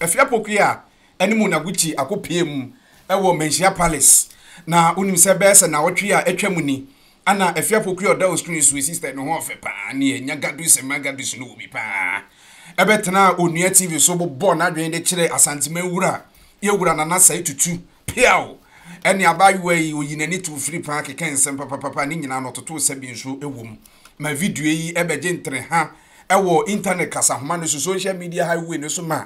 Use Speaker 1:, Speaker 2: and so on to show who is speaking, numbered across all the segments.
Speaker 1: Afia Poku a ɛne Mona Gucci akɔpueem wɔ Manhyia Palace, na wonim sɛ bɛyɛ sɛ naawɔtwe a atwam ni na Afia Poku a ɔda Osun Esuo Sister no ho ɔfɛ paa ne Anya Gadusi Mma Gadusi no wɔ bi paa bɛtenaa Onua TV so bobɔɔ n'adwene de kyerɛɛ Asanteman Wura Yɛwura Nana Sae Tutu Peaw ne abaayewa yi ɔyi n'ani too firi paa kekɛɛ nsɛm papapapa ne nyinaa no ɔtotoo sɛbi nso wom ma video yi bɛgye ntereha wɔ intanɛt kasanoma no so, social media highway no so ma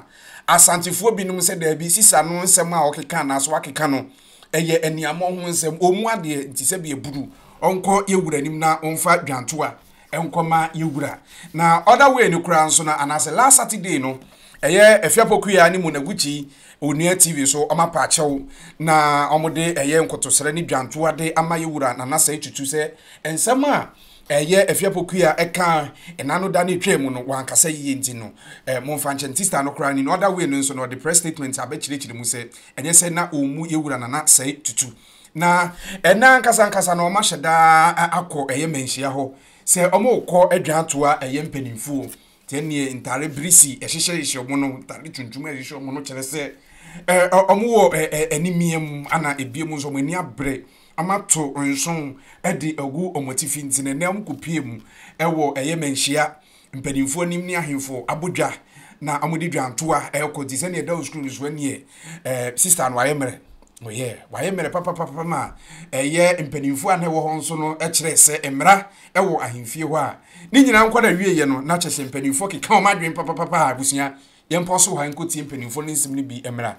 Speaker 1: Asantefoɔ binom sɛ daabi, Sisa no nsɛm a ɔkeka anaasɛ wakeka no yɛ aniammɔ ho nsɛm, ɔmmu adeɛ nti sɛ bi aburu. Ɔnkɔ yɛn wura anim na ɔmfa dwantoa nkɔma yɛn wura. Na other way no koraa nso no, anaasɛ last Saturday no, ɛyɛ Afiapokua ne Monaguchi Onua TV so ɔma paakyɛw na wɔde ɛyɛ nkotosrɛ ne dwantoa de ama yɛn wura Nana Sɛɛ Tutu sɛ nsɛm a Ɛyɛ Afiapoku a ɛka Enano da no etwaa mu no, wankasa yiye nti no, eh, momfa nkyɛ no. Tista no koraa, in no other way no nso no, ɔde press statement aba kyerɛkyerɛ mu sɛ, ɛnyɛ sɛ na ommu yɛn Wura Nana sɛɛ tutu, na ɛnnɛ ankasa ankasa no wɔahyɛ da akɔ ɛyɛ mmanhyia hɔ sɛ wɔrekɔ adwaa toa ɛyɛ mpanimfoɔ Sɛ neɛ ntare birisi hyehyɛhyehyɛ wɔn no, ntare tuntum hyehyɛ wɔn no kyerɛ sɛ wɔn wɔ animia mu, ana ebie mu nso wɔn ani abere, wɔn ato nso de agu wɔn atifi nti na ɛnɛ wɔn kɔ pie mu ɛwɔ ɛyɛ mɛnhyia mpanimfoɔ anim ne ahemfoɔ abodwa na wɔn de dwantoa ɛkɔ nti sɛ neɛ ɛda wɔ sukuu no so ɛneɛ sister no ayɛ mmerɛ. Oh yeah, wayɛ mmerɛ papapapa ma ɛyɛ mpanimfoɔ a na ɛwɔ hɔ nso no kyerɛ sɛ mmara ɛwɔ ahemfie hɔ a ne nyinaa nkɔ da wieɛ no na kyɛ sɛ mpanimfoɔ keka wɔn adwene papapapa a abusua yɛn pɔ so hɔ a nkɔtie mpanimfoɔ no nsɛm no bi mmara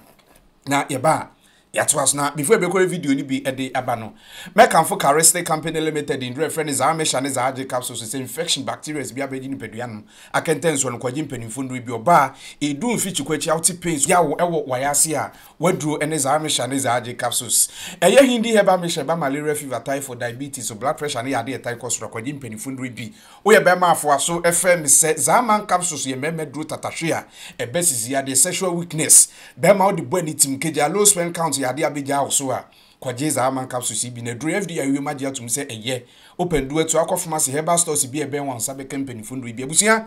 Speaker 1: na yɛba a yɛatoa so na before ɛbɛkɔrɛ video no bi ɛde aba no mɛkamfo Cariste Company Limited nduro ɛfrɛ ne zaa mesha ne zaa gye capsules sɛ infection bacteria bi abɛgye nipadua no akɛntɛnsoɔ no kɔgye mpanimfoɔ nnuro bi ɔbaa ɛdu mfikyi kɔ akyi a wote pain so yawo ɛwɔ wayɛ ase a Waduro ne dza mehyɛ ne dza agye capsules. Ɛyɛ Hindi herbal mixture ɛba malaria, fever, typhoid, diabetes, so blood pressure ne yɛ ade a ɛtae kɔ soro a kɔgye mpanyinfo nnuro bi. Woyɛ bɛɛma a foa so frɛ me sɛ dza man capsules yɛ mɛɛma aduro tatahwe a ɛba sisi adeɛ sexual weakness bɛɛma wode bɔ ani tim kagyaa low sperm count yɛ adeɛ a bɛgyaa wo so a kɔgye dza man capsules yi bi na aduro FDA awie mu agye atom sɛ ɛyɛ. Wopɛ nnuro a tu akɔ pharmacy herbal stores bi a ɛbɛn wo a wo nsa bɛka mpanyinfo nnuro yi bi abusua.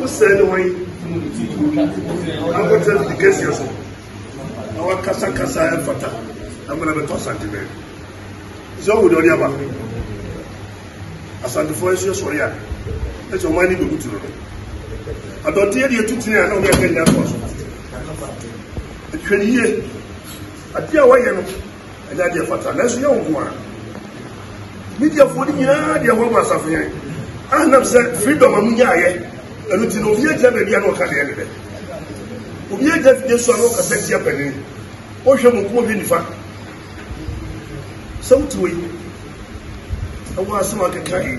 Speaker 1: Wosɛne wɔn akɔtɛ ne kɛseɛ so na wakasakasa ɛmfata amena bɛtɔ asante bɛɛ sɛ ɔwo de ɔde aba asantefoɔ nso yɛ sɔre a ɛsɛ ɔman ne bɛbutu no adɔnteɛ deɛ tutini a na ɔde akɛ nyɛ atɔ so ɛtwɛne yie Adeɛ a wɔyɛ no ɛnyɛ adeɛ fata nanso yɛ nko ara mediafoɔ no nyinaa deɛ wɔn asafo yɛn anam sɛ freedom a mo nyaayɛ ɛno ti no obi agyina baabi a na ɔka deɛ ne dɛ obi agyina fidie so a na ɔkasa tia panin wohwɛ mo nko ɔhwɛ nifa sɛ wote wɔ yi ɛwɔ asɛm akeka yi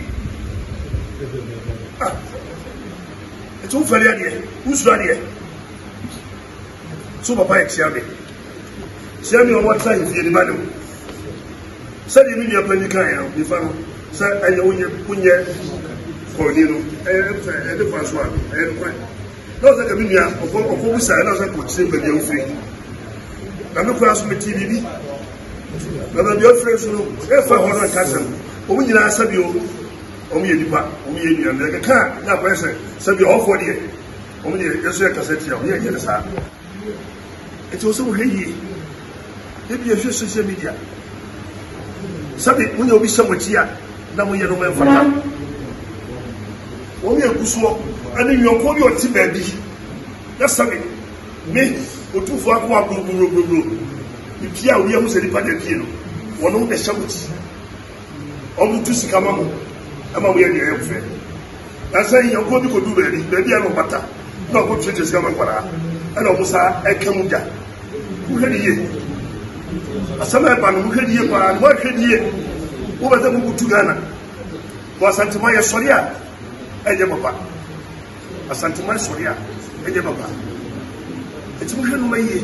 Speaker 1: ɛti wofɛre adeɛ wosuro adeɛ So wɔpae kyia me? Kyia me a wɔtra ahemfie no ba no. Sɛdeɛ me nua panyin kaeɛ no, nifa no sɛ ɛyɛ wonyɛ wonyɛ kɔɔni no ɛyɛ sɛ ɛde fa so a ɛyɛ nokorɛ. Na ɔsɛ ka me nua ɔfɔ ɔfɔ busa ɛna ɔsɛ kɔkyerɛ baabi a wofiri. Na me koraa so me ti biribi. Na baabi a wofiri so no ɛfa hɔ no nka sɛm. Wɔn nyinaa sɛbi o wɔn yɛ nipa wɔn yɛ nua na ɛkeka na akɔyɛ sɛ sɛbi ɔfɔ deɛ. Wɔn deɛ yɛn nso yɛ kasa tia wɔn yɛn nyɛ no saa. Eti wɔn sɛ wɔhwɛ yie. Ebi yɛ hwɛ social media. Sɛbi mo nyɛ obi hyɛ mo akyi a na mo yɛ no mo mfata. Wɔn yɛ gu soɔ ɛne nyɔnko bi ɔte baabi na sɛbi ne otumfoɔ akɔ agorogorogoro ne pie a obi ahu sɛ nipa na pie no wɔn na ɛhyɛ mo akyi.
Speaker 2: wɔtu sika ma mo ma moyɛ deɛ ɛyɛ fɛ na sɛ nyɛnkoɔ bi kɔdu baabi baabi a na ɔbata na ɔkɔtuatua sika ma nkwadaa ɛna ɔmo saa ɛka mu gya wohwɛ ne yie asɛm a ɛba no wohwɛ ne yie paa no woahwɛ ne yie wobɛsɛ mokotu ghana wɔ asantema yɛ sɔre a ɛnyɛ papa asantema sɔre a ɛnyɛ papa ɛti wohwɛ no ma yie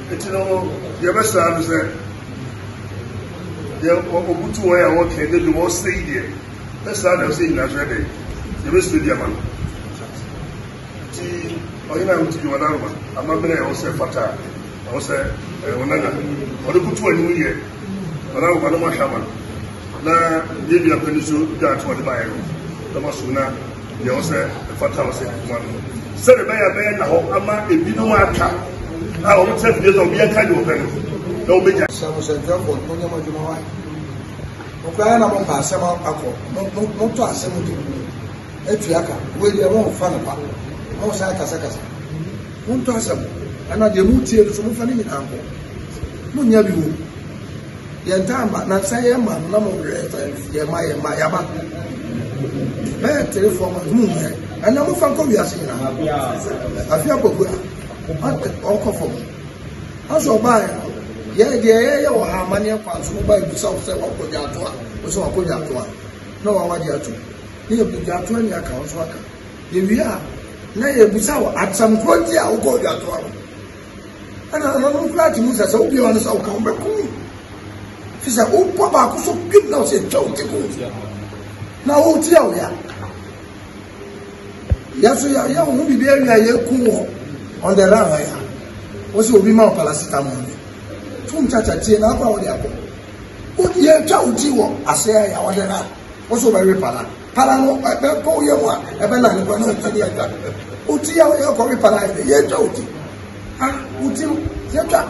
Speaker 2: Enti no no, deɛ ɛbɛsra no sɛ, deɛ ɔbutu wɔn a wɔka ɛdɛ bi wɔsɛ yi deɛ, ɛsra na ɛsɛ nyina kyerɛ dɛ, yɛbɛsrɛ bi ama no. Nti ɔhene a wotu bi wɔn aroma, amammerɛ a ɛwɔ sɛ fata a ɛwɔ sɛ ɛwɔ nana, ɔde butu wɔn anim yɛ wɔn aroma no mahwɛ ama no. Na yɛn nua panyin so dwa ato ɔde baeɛ no, na masom na Deɛ ɛwɔ sɛ ɛfata wɔ sɛ ɛkuma no sɛdeɛ ɛbɛyɛ a ɛbɛyɛ nna hɔ ama ebinom aka a wɔkyerɛ fidie sɛ obiara ka deɛ ɔpɛ no na wɔbɛgya. Sɛ mo sɛ dwam bɔ
Speaker 3: monyɛ mo adwuma wa ɔkora na mompa asɛm akɔ motɔ asɛm de mu atua ka wei deɛ momfa no pa mo sɛ akasakasa montɔ asɛm ɛna deɛ motie no so momfa no nyinaa nkɔ monyɛ bi wɔ mu Yɛn taa ma na sɛ yɛn ma no na mo werɛ sɛ yɛn ma yɛn ma yaba bɛyɛ three four months mu yɛ ɛnna mo fa nkɔ wiase nyinaa afi akɔgu a ɔkɔ fam asɛ ɔbaa yɛ yɛ deɛ yɛyɛ wɔ ha amaneɛ kwan so ɔbaa ebusa wo sɛ wakɔ gya ato a wo sɛ wakɔ gya ato a na wawa gya ato ne yɛ gya ato ani aka wo so aka yɛwie a na yɛbusa wɔ asɛm korɔ nti a wokɔ gya ato a ɛna ananom koraa te mu sɛ sɛ wobia no sɛ woka wobɛko fi sɛ wobɔ baako so pim na wosɛ twa wo tiko na wotia wo ya yɛ so yɛyɛ wo ho biribi awie a yɛku wɔ on the run hɔ ya wo sɛ obi ma wo paracetamol bi tom kyakyatie na akɔ a wode akɔ yɛtwa wo ti wɔ aseɛ ya wɔde ra wo sɛ wobɛwe pala Para no ɛbɛ bɔ yɛ mu a ɛbɛ na nipa no ɛtwa de ɛtwa oti yɛ yɛ kɔ mi para yɛ yɛ twa oti ha oti no yɛ twa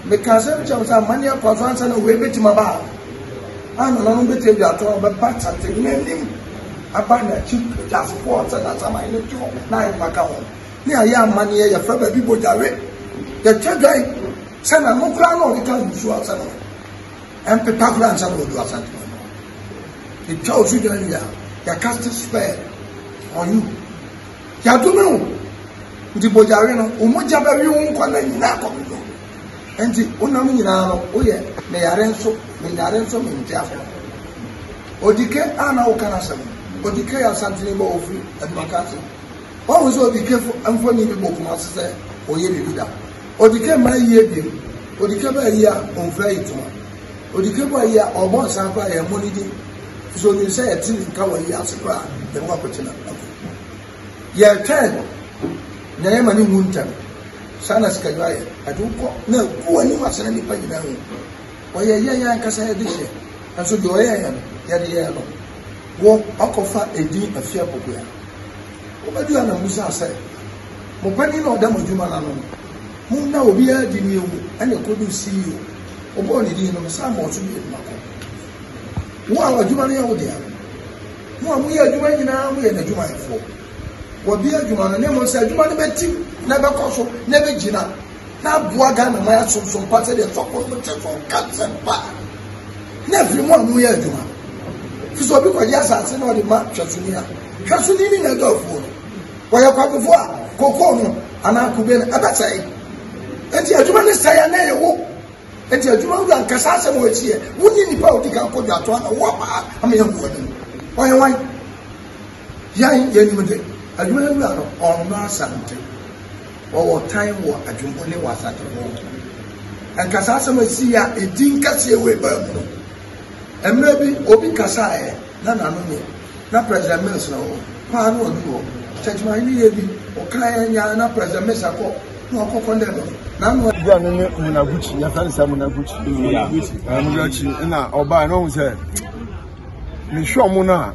Speaker 3: meka asɛm kyɛw sɛ amane akɔ so ansa na wei bɛtumi aba a anananom bɛtumi de atɔ bɛba kyate n'anim aba n'akyi gyasefoɔ sɛ nasaman no tɔ na ayɛma ka ho ne ayɛ amaneɛ yɛfrɛ baabi bɔgyare yɛtwa dwan sɛ na nokora na ɔde ka nsuo asɛ no Ɛmpepa koraa ansa na wɔadu Asante no. Ɛtwa wo so dwan wie a, yɛakast spell on you. Yɛadome wo. Nti bɔgyawe no, wo mogya bɛwe wo nkwa na nyinaa kɔmedɔ. Nti wonam nyinaa no, woyɛ meyare nso, menyare nso, mente afɔ. Odike a na woka no asɛm. Odike yɛ Asante no bɔ ofiri Adumaka ase. Wɔn sɛ Odike mfoni bi bɔ kuma ase sɛ ɔyɛ biribi da. Odikɛ ma ayi ebien, odikɛ bɔ ayi a ɔnfura ayi toma, odikɛ bɔ ayi a ɔbɔ nsan koraa yɛ mmɔ ne din efisɛ onim sɛ yɛte ne nka wɔ ayi ase koraa yɛn ho akɔte na akɔ. Yɛtwɛn no na yɛma ne wu ntɛm. Saa na sikadwa yɛ, ɛde wo kɔ na agu w'anim ase na nnipa nyinaa hu. Ɔyɛ yɛn ankasa yɛn adehyeɛ, nanso deɛ ɔyɛ yɛn no yɛde yɛn no. Wo ɔkɔfa edin afie apokoya. Wobɛdu ha na wobisaa sɛ Mo panin a ɔda mo adwuma no ano no, monna obiara adi ne awu ɛna ɛkɔduu CEO, wɔbɔɔ ne din no, mesan mmɔɔ so bio ma ko. Wo a w'adwuma no yɛ wo dea no, mo a moyɛ adwuma nyinaa moyɛ n'adwumayɛfoɔ, wɔabie adwuma no ne mo nsa, adwuma no bɛtim na ɛbɛkɔ so na ɛbɛgyina na aboa Ghana ma yɛasomsom pa sɛdeɛ sɔfo no te so nka nsɛm pa na afiri mu a moyɛ adwuma fi sɛ obi kɔgye asase na ɔde ma hwɛsoni a hwɛsoni ne n'adɔfoɔ no Wɔyɛ kwabofo a kokoo no anaa kube no ɛbɛsɛe. Enti adwuma no sɛe a na ɛyɛ wo. Enti adwuma wura nkasa asɛm wɔ akyi yɛ. Wonyi nipa a odi kan kɔ dwatoa na ɔwɔ paa ama yɛn kɔ anim. Ɔyɛ wan? Yɛn yɛnim de adwuma no wura no ɔnnɔ asante. Wɔwɔ tan wɔ adwumbo ne wɔ asante wɔ. Nkasa asɛm a ɛsi yɛ a ɛdi nkɛseɛ wɔ ɛbaa mu no. Mmerɛ bi obi kasaeɛ na n'ano nyɛ, na President Mills na ɔwɔ hɔ a na ɔduru hɔ. Sɛ adwumayɛni yɛ bi, ɔkaeɛ nyɛ ara na President Mills akɔ na ɔkɔ kɔndɛm no, na ano ayɛ. Bia no ne Munaguchi,
Speaker 4: yɛfrɛ no sɛ Munaguchi. Munaguchi na ɔbaeɛ na ɔhu sɛ mehwɛ ɔmo no a,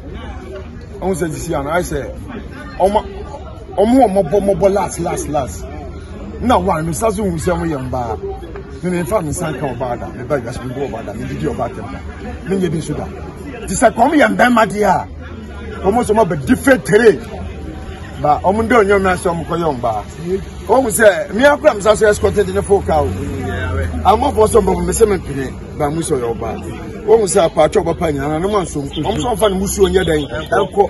Speaker 4: ɔhu sɛ sisi a no ayɛ sɛ ɔma Wɔn a wɔbɔ mmɔbɔ las las las na wɔn a nsa so hu sɛ wɔyɛ mbaa ne ne nfa nsa nka ɔbaa da ne ba wiase ne bu ɔbaa da ne didi ɔbaa tɛm da ne nyɛ bi nso da te sɛ kɔm yɛ mbɛɛma deɛ a wɔn nso wɔn abɛdi fetere ba wɔn de onyom na sɛ wɔn kɔ yɛ mbaa wɔn sɛ mmea kura nsa so ɛsikɔte de ne fo ka o amafo sɛ mbɔbɔ mbɛsɛ mi mpene ba mu sɛ ɔyɛ ɔbaa wɔn sɛ apaakyɛ ɔbɛpa nyinaa na ne mu asomfo wɔn nso wɔn fa ne mu suo nyɛ dɛn ɛkɔ.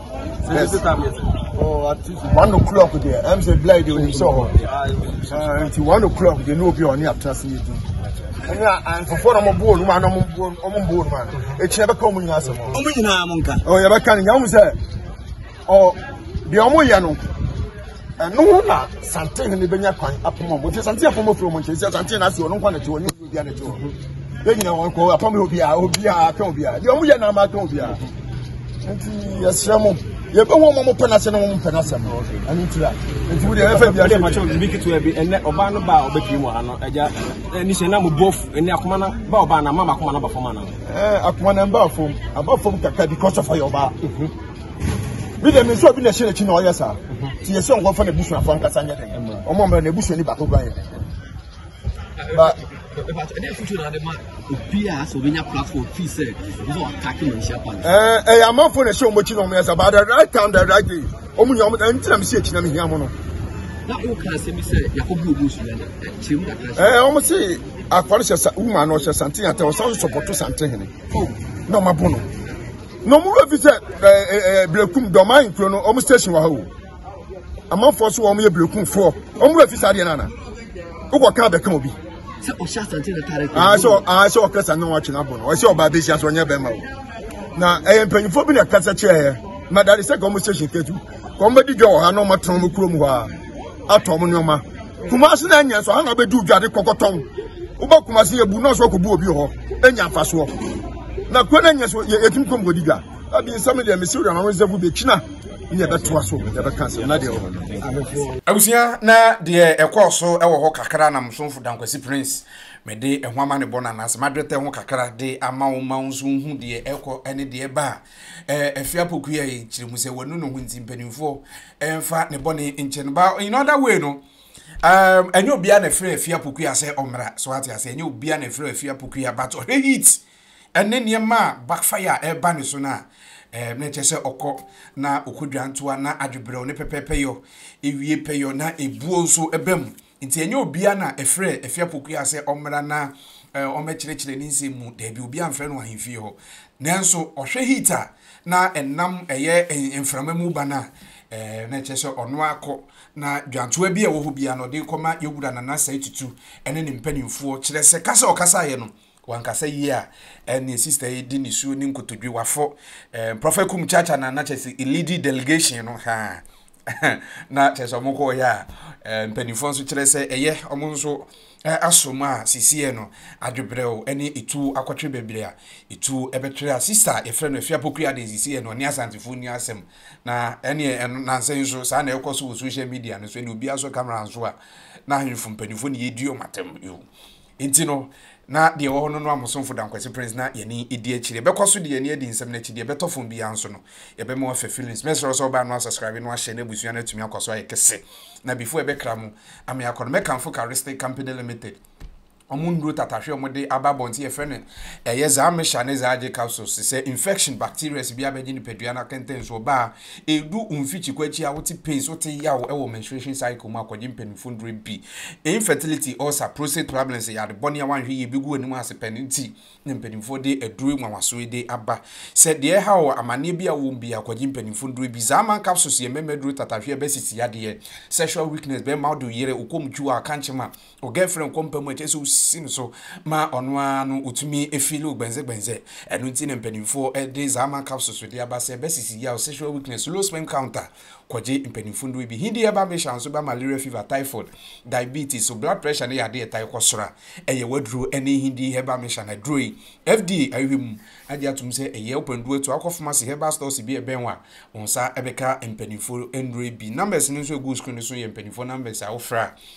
Speaker 4: Yes. Oh, at one o'clock there. I'm saying blind when you saw her. Uh, until one o'clock, they know be on the trust me. ɛne anfofo na ɔmo buo numa na ɔmo buo ɔmo buo numa no ekyir ɛbɛka ɔmo nyinaa asɛm. ɔmo nyinaa mo nka. ɔ yɛbɛka no nyamu sɛ ɔ deɛ ɔmo yɛ no ɛno na santen ne bɛnya kwan apoma ɔmo nti santen apoma firi ɔmo nkyɛn nti santen na ase ɔno nkwa na ti ɔnyɛ. obiara de to hɔ yɛn nyinaa wɔn kɔ apam yɛ obiara obiara atwɛn obiara deɛ wɔn yɛ na ama atwɛn obiara nti yɛsrɛ mo yɛbɛ wɔn wɔn pɛ n'asɛm na wɔn pɛ n'asɛm ɛno nti la nti wo deɛ ɛfɛ biara ɛdɛ makyɛ obi ketewa bi ɛnɛ ɔbaa no ba a ɔbɛpie mu ha no ɛgya ɛni hyɛ na mo bɔ ɛni akoma na ba ɔbaa na mama akoma na ba fam ana ɛɛ akoma na mba fam aba fam kakra because of ɔyɛ ɔbaa bi dɛm nso obi na ɛhyɛ n'akyi na ɔyɛ saa ti yɛ sɛ ɔnkɔfa n'abusua fɔ nkasa nyɛ dɛ ɔmo ɔmo na n'abusua ni baako kura yɛ But
Speaker 5: ɛyɛ amanfo na ɛhyɛ wɔn akyi
Speaker 4: na wɔn yɛ sɛ but the right time the right day wɔn nyɛ wɔn ɛnti na mi si akyi na mi hia mo no. na o kan
Speaker 5: sɛ mi sɛ yakɔ bi omi sùn ɛna kyerɛ mu kakra. ɛɛ wɔn si
Speaker 4: akwari hyɛ sa wuma na ɔhyɛ sante yàtɛ ɔsan sɔpɔtɔ sante hene na wɔn abo no na wɔn wura fi sɛ ɛɛ ɛɛ birekum dɔm ayi nkuro no wɔn station wɔ ha o. amanfoɔ so wɔn yɛ berekunfoɔ wɔn mu efi saa deɛ nana wokɔ kaa bɛka obi. sɛ ɔhyɛ
Speaker 5: asante na taare kɔ. aa sɛ aa sɛ ɔkasa
Speaker 4: ne wɔn atwe n'abɔ no ɔsɛ ɔbaa bɛ si aso ɔnyɛ bɛrima o na ɛyɛ mpanyinfoɔ bi na kasa kyerɛ yɛ madade sɛ kɔn mo station ketu kɔn bɛ di dwa wɔ ha na wɔn atɔn mo kurom hɔ a atɔ wɔn nneɛma kumasi na anya nso ahana bɛ di dwa de kɔkɔtɔn wobɛ kumasi yɛ bu nɔɔso kɔ bu obi hɔ enya afa soɔ na kɔ na anya nso yɛ etum kɔn bɔ di dwa abi nsɛm deɛ mesi wura na wɔn nsɛm bu bɛ kyina. ne yɛbɛtoa so yɛbɛka asɛm na deɛ ɔwɔ no abusua
Speaker 1: na deɛ ɛkɔɔ so ɛwɔ hɔ kakra na msomfo dankwasi prince mede ɛho ama ne bɔ no anaasɛ madwetɛ ho kakra de ama wo ma wo nso wohu deɛ ɛkɔ ɛne deɛ ɛba a ɛfi apɔkua yɛ nkyerɛ mu sɛ wanu ne ho nti mpanimfoɔ ɛmfa ne bɔne nkyɛ no ba in other way no um, ɛnyɛ obiara na ɛfrɛ afi apɔkua sɛ ɔmmra so ate ase ɛnyɛ obiara na ɛfrɛ afi apɔkua but ɔhwɛ heat ɛne nneɛma a backfire a ɛreba ne so no a, ɛɛ, na ɛkyerɛ sɛ ɔkɔ na ɔkɔ dwantoa na adwebrɛw ne pɛpɛɛpɛyɔ, ewie pɛyɔ na ebuo nso ba mu. Nti ɛnyɛ obiara na ɛfrɛɛ Afia Pokuaa sɛ ɔmmra na ɛɛ, ɔmmɛkyerɛkyerɛ ne nsɛm mu. Daabi, obiara mfrɛ no ahemfie hɔ. Nanso ɔhwɛ heat a na ɛnam ɛyɛ mframa mu ba no a, ɛɛ, na ɛkyerɛ sɛ ɔno ara kɔ na dwantoa bi a ɛwɔ hɔ biara no, ɔde rekɔma Yɛwura Nana Asai Tutu ne ne mpanimfoɔ, kyerɛ sɛ kasa a ɔkasaeɛ no, Wankasa yie a ɛneɛ sister yi di ne suo ne nkotodwe wafo eh, Prophet Kum Chacha na na kyerɛ sɛ elidi delegation no ha na kyerɛ sɛ ɔmo kɔɔyɛ a eh, mpanimfoɔ nso kyerɛ sɛ ɛyɛ ɔmo nso eh, asom a sisiɛ no adwebrɛw ɛne etuo akɔtwe bebree a etuo ɛbɛtwe a sister yɛfrɛ no afia pokua de sisiɛ no ɔne asantefoɔ ni asɛm na ɛneɛ ɛno nansɛ nso saa na ɛkɔ so wɔ social media no so ɛne obiara so camera nso a na ahemfo mpanimfoɔ ne yɛdi ɔmo atɛm yo Enti no, na deɛ ɛwɔ hɔ no noa mo somfo Dankwasi Prince na yɛne edi akyire. Yɛbɛkɔ so de yɛn ani adi nsɛm no akyi, deɛ ɛbɛtɔ fam biara nso no, yɛbɛma wɔafa feelings. Mɛsrɛ wo sɛ wobaa no a subscribe no ahyɛ na abusua no atumi akɔ so ayɛ kɛse. Na before ɛbɛkra mu ama yɛakɔ no, mɛkamfo Caristic Company Limited, wɔn nnuro tatahwe a wɔde aba abɔnten, yɛfrɛ no ɛyɛ Zaamisha ne Zaagye capsules, sɛ infection, bacterias biara bɛgye nipadua no akɛntɛn so, ɔbaa Edu mfikyiko akyi a wote pains, wote yaw wɔ menstruation cycle mu a kɔgye mpanyimfo nnuru bi. Infertility, ulcer, prostate problems yɛ ade bɔne a woanhwɛ yie ebegu w'anim ase pɛ no nti na mpanyimfo de aduru nwanwaso yi de aba. Sɛ deɛ ɛhaw wo, amanneɛ bi a wowɔ mu biara, kɔgye mpanyimfo nnuru bi. Zaaman capsules yɛ mmarima aduru tatahwe a ɛbɛsisi yadeɛ, sexual weakness, bɛma wode wo yere, wo kɔm twi wo a, kankye ma. Wo girlfriend kɔ mpa mu a, ɛkyerɛ sɛ wosi no so ma ɔno ara no otumi feel wo gbɛnzɛgbɛnzɛ. Ɛno nti na mpanimfoɔ de Zama capsules de aba sɛ bɛsisi yaw sexual weakness, low sperm count a, kɔgye mpanimfo nnuro bi. He deɛ ba mehyɛ nso ba malaria fever, typhoid, diabetes. So blood pressure no yɛ adeɛ ɛtae kɔ soro a, ɛyɛ w'aduro ne he deɛ herbal mission. Aduro yi, FDA ahwehwɛ mu agye atom sɛ ɛyɛ wo pɛnduo atuo. Wokɔ pharmacy, herbal stores bi a ɛbɛn wo a, wo nsa bɛka mpanimfo nnuro yi bi. Numbers no nso a ɛgu wo screen no so yɛ mpanimfoɔ numbers a wofrɛ a,